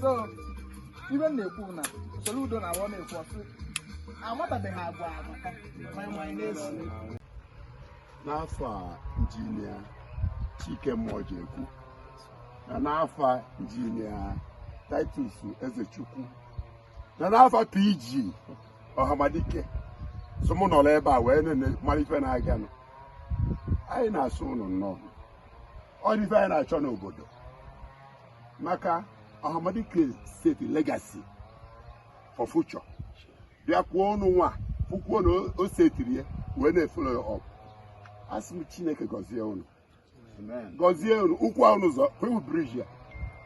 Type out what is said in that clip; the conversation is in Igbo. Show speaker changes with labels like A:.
A: so ibe m na-ekwu na soro udo na awọ na-ekwu ọsị amatabeghị agwa amaka ma ịma anyị na-eso n'afa injinia chike mọjekwu na n'afa injinia titus ezechukwu na n'afa pg ọhamadike so mụ nọrọ ebe a wee na-ene mara ife na-aganụ anyị na-asị ụnụ nnọọ ọ dị ife anyị na-achọ n'obodo maka ọhamadike setiri legasi for future bịa kwuo unu nwa fụkwuo na o setiri ya wee na-efolo ya ọp asị m chineke gọzie unu gọzie unu ụkwụ ahụ n'ụzọ kwewu briji a